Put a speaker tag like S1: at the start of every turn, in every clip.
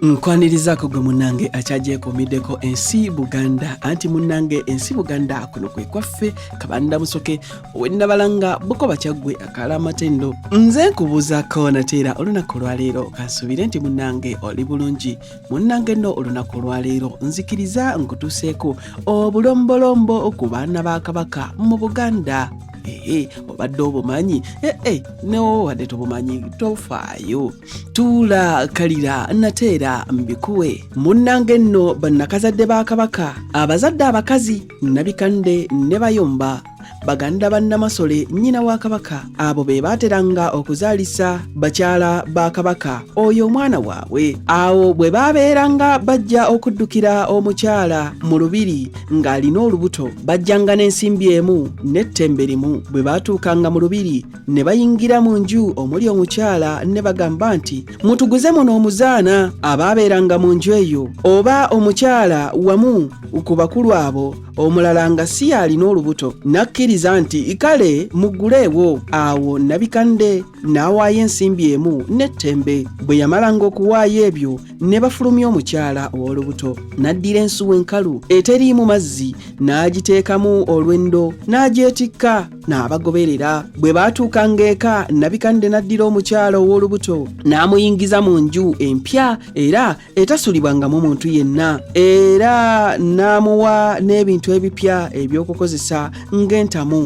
S1: nkwanirizaako gwe munnange akyagyekomiddeko ensi buganda anti munnange ensi buganda kuno kwe kwaffe kabanda musoke owennabalanga buko bakyaggwe akaala amatendo nze nkubuuzaako nateera olunaku olwaleero kansuubire nti munnange oli bulungi munnange no olunaku olwaleero nzikiriza nkutuuseeko obulombolombo ku baana ba kabaka mu buganda ee obadde obumanyi ee newo wadde tobumanyi tofaayo tuula kalira nate era mbikuwe munnanga enno bannakazadde ba kabaka abazadde abakazi nabikande ne bayomba baganda ba namasole nnyina wa kabaka abo be baateranga okuzaalisa bakyala ba kabaka oyo omwana waabwe awo bwe baabeeranga bajja okuddukira omukyala mu lubiri ng'alina olubuto bajjanga n'ensimbi emu n'ettembe limu bwe baatuukanga mu lubiri ne bayingira mu nju omuli omukyala ne bagamba nti mutuguze muno omuzaana abaabeeranga mu nju eyo oba omukyala wamu ku bakulu abo omulala nga si yaalina olubuto n'akkiriza nti kale mugguleewo awo nabikande n'awaayo ensimbi emu n'ettembe bwe yamalanga okuwaayo ebyo ne bafulumya omukyala ow'olubuto n'addira ensuwa enkalu eteriimu mazzi n'agiteekamu olwendo n'agyetikka n'abagoberera bwe baatuukanga eka nabikande n'addira omukyala ow'olubuto n'amuyingiza mu nju empya era etasulibwangamu muntu yenna era n'amuwa n'ebintu ebipya eby'okukozesa ng'entamu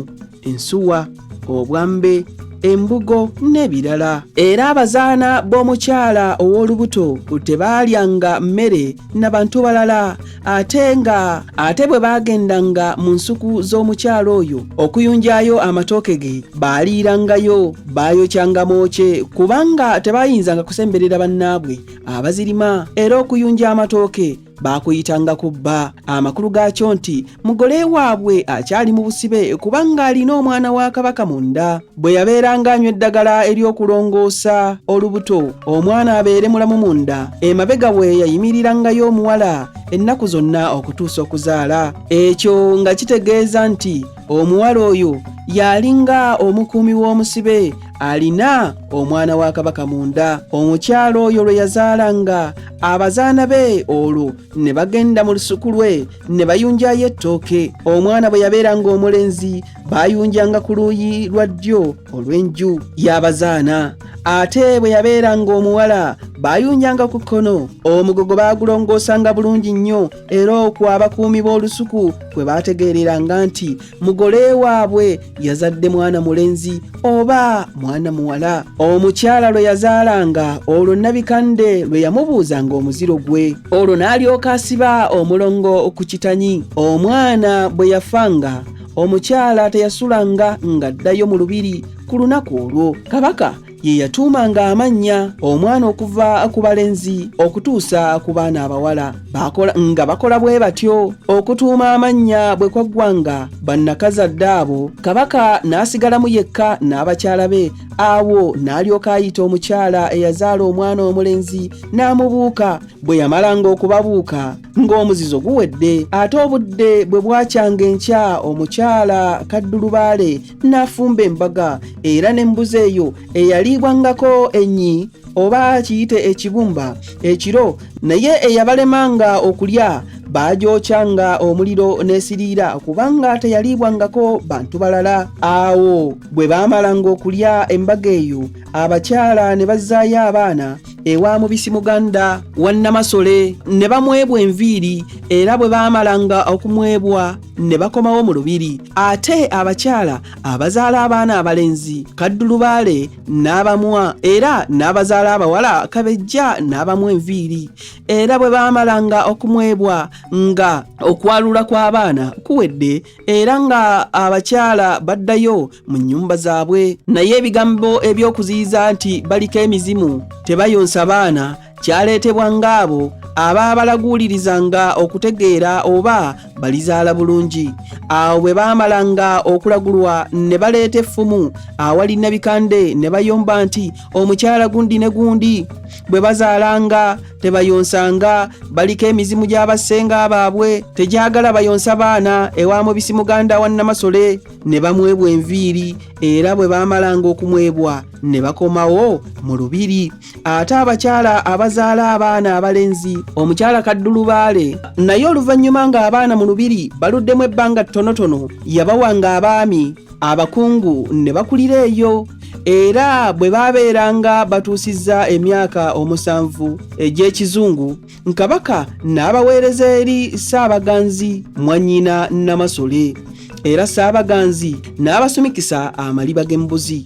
S1: ensuwa obwambe embugo n'ebirala era abazaana b'omukyala ow'olubuto tebaalyanga mmere na bantu balala ate nga ate bwe baagendanga mu nsuku z'omukyalo oyo okuyunjayo amatooke ge baaliirangayo baayokyanga mwoce kubanga tebaayinzanga kusemberera bannaabwe abazirima era okuyunja amatooke baakuyitanga ku bba amakulu gaakyo nti mugole waabwe akyali mu busibe kubanga alina omwana wa kabaka munda bwe yabeeranga anywa eddagala ery'okulongoosa olubuto omwana abeere mulamu munda emabega we yayimirangayo omuwala ennaku zonna okutuusa okuzaala ekyo nga kitegeeza nti omuwala oyo yalinga omukuumi w'omusibe alina omwana wa kabaka munda omukyala oyo lwe yazaalanga abazaana be olwo ne bagenda mu lusuku lwe ne bayunjayo ettooke omwana bwe yabeeranga omulenzi baayunjanga ku luuyi lwa ddyo olw'enju y'abazaana ate bwe yabeeranga omuwala baayunjanga ku kkono omugogo baagulongoosanga bulungi nnyo era okwo abakuumi b'olusuku kwe baategeereranga nti mugole waabwe yazadde mwana mulenzi oba mwana muwala omukyala lwe yazaalanga olwo nabikande lwe yamubuuzanga omuziro gwe olwo n'alyoka asiba omulongo ku kitanyi omwana bwe yafanga omukyala teyasulanga ng'addayo mu lubiri ku lunaku olwo kabaka ye yatuumanga amannya omwana okuva ku balenzi okutuusa ku baana abawala nga bakola bwe batyo okutuuma amannya bwe kwaggwanga bannakazadde abo kabaka n'asigalamu yekka n'abakyala be awo n'alyoka ayita omukyala eyazaala omwana omulenzi n'amubuuka bwe yamalanga okubabuuka ng'omuzizo guwedde ate obudde bwe bwakyanga enkya omukyala kaddulubaale n'afumba embaga era n'embuzi eyo eyaliibwangako ennyi oba kiyite ekibumba ekiro naye eyabalemanga okulya baagyokyanga omuliro n'esiriira kubanga teyaliibwangako bantu balala awo bwe baamalanga okulya embaga eyo abakyala ne bazzaayo abaana ewa mubisi muganda wa namasole ne bamwebwa enviiri era bwe baamalanga okumwebwa ne bakomawo mu lubiri ate abakyala abazaala abaana abalenzi kaddulubaale n'abamwa era n'abazaala abawala kabejja n'abamu enviiri era bwe baamalanga okumwebwa nga okwalula kw'abaana kuwedde era nga abakyala baddayo mu nnyumba zaabwe naye ebigambo eby'okuziyiza nti baliko emizimu tebayonsa baana kyaleetebwa ng'abo aba balaguulirizanga okutegeera oba balizaala bulungi awo bwe baamalanga okulagulwa ne baleeta effumu awali nabikande ne bayomba nti omukyala gundi ne gundi bwe bazaalanga tebayonsanga baliko emizimu gy'abassenga baabwe tegyagala bayonsa baana ewa mubisi muganda wa nnamasole ne bamwebwa enviiri era bwe baamalanga okumwebwa ne bakomawo mu lubiri ate abakyala abazaala abaana abalenzi omukyala kaddulubaale naye oluvannyuma ng'abaana mu lubiri baluddemu ebbanga ttonotono yabawanga abaami abakungu ne bakulira eyo era bwe baabeeranga batuusizza emyaka omusanvu egy'ekizungu nkabaka n'abaweereza eri ssaabaganzi mwannyina namasole era ssaabaganzi n'abasumikisa amaliba g'embuzi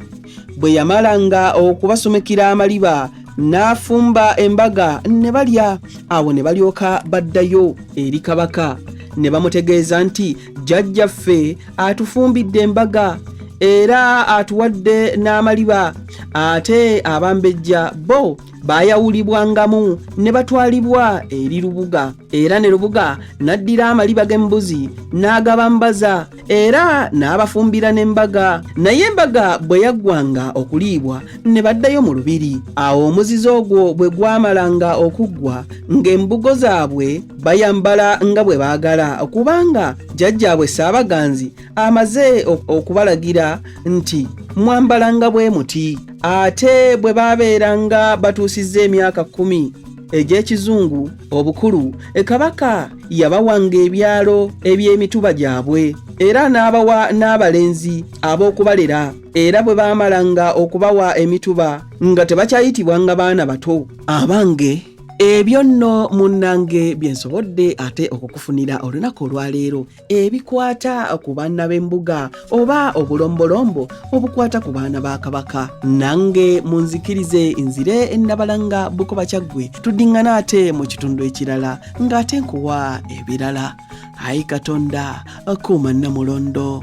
S1: bwe yamalanga okubasumikira amaliba n'afumba embaga ne balya awo ne balyoka baddayo eri kabaka ne bamutegeeza nti jjajjaffe atufumbidde embaga era atuwadde n'amaliba ate abambejja bo baayawulibwangamu ne batwalibwa eri lubuga era ne lubuga n'addira amaliba g'embuzi n'agabambaza era n'abafumbira n'embaga naye embaga bwe yaggwanga okuliibwa ne baddayo mu lubiri awo omuzizo ogwo bwe gwamalanga okuggwa ng'embugo zaabwe bayambala nga bwe baagala kubanga jjajjaabwe ssaabaganzi amaze okubalagira nti mwambala nga bwe muti ate bwe baabeeranga batuusizza emyaka kkumi egy'ekizungu obukulu e kabaka yabawanga ebyalo eby'emituba gyabwe era n'abawa n'abalenzi ab'okubalera era bwe baamalanga okubawa emituba nga tebakyayitibwa nga baana bato abange ebyo nno munnange bye nsobodde ate okukufunira olunaku olwaleero ebikwata ku baana b'embuga oba obulombolombo obukwata ku baana ba kabaka nange munzikirize nzire ennabalanga bukoba kyaggwe tuddiŋŋana ate mu kitundu ekirala ng'ate nkuwa ebirala ayi katonda kuuma nnamulondo